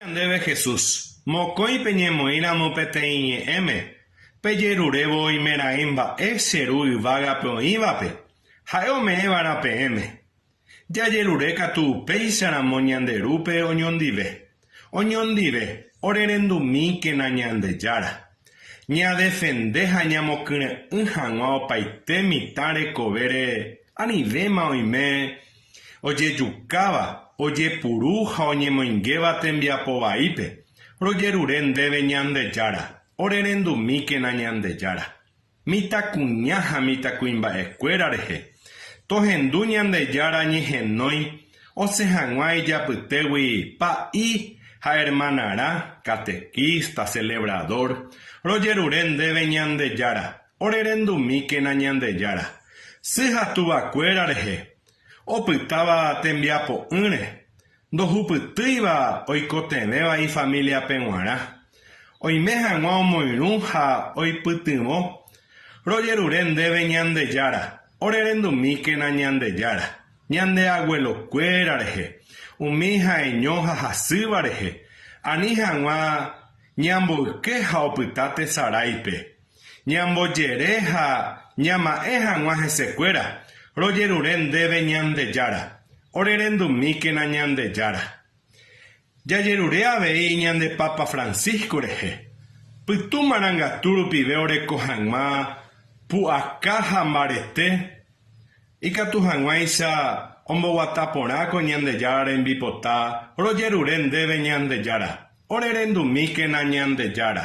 Ñandéve Jesús, mokõi peñemoĩramo peteĩ ñe'ẽme, pejerurévo oimeraẽ mba'e che Ru yvágape oĩvape, ha'e ome'ẽva'erã peẽme. Jajerure katu upéicharamo ñande Rúpe oñondive. Oñondive, orerendumíkena Ñandejára. Ñadefende ha ñamokyre'ỹ hag̃ua opaite mitã rekove ree, anivéma oime. Ojejukáva, ojepuru ha oñemoingéva tembiapo vaípe, rojerure ndéve Ñandejára, orerendumíkena Ñandejára. Mitãkuña ha mitãkuimba'ekuéra rehe, tohendu Ñandejára ñehenói osẽ hag̃ua ijapytégui pa'i ha ermanarã, catequista, celebrador, rojerure ndéve Ñandejára, Orerendumíkena Ñandejára, sy ha tuvakuéra rehe, opytáva tembiapo'ỹre, ndohupytýiva oikotevẽva ifamiliape g̃uarã, oime hag̃ua omoirũ ha oipytyvõ, rojerure ndéve Ñandejára, orerendumíkena Ñandejára, ñande aguelokuéra rehe, umi ha'eño ha hasýva rehe, ani hag̃ua ñamboyke ha opyta tesaráipe, Ñambojere ha ñama'ẽ hag̃ua hesekuéra, rojerure ndéve Ñandejára, orerendumíkena Ñandejára. Jajerure avei ñande Papa Francisco rehe, pytu marangatu rupive oreko hag̃ua pu'aka ha mbarete, ikatu hag̃uáicha omboguata porã ko Ñandejára rembipota, rojerure ndéve Ñandejára, orerendumíkena Ñandejára.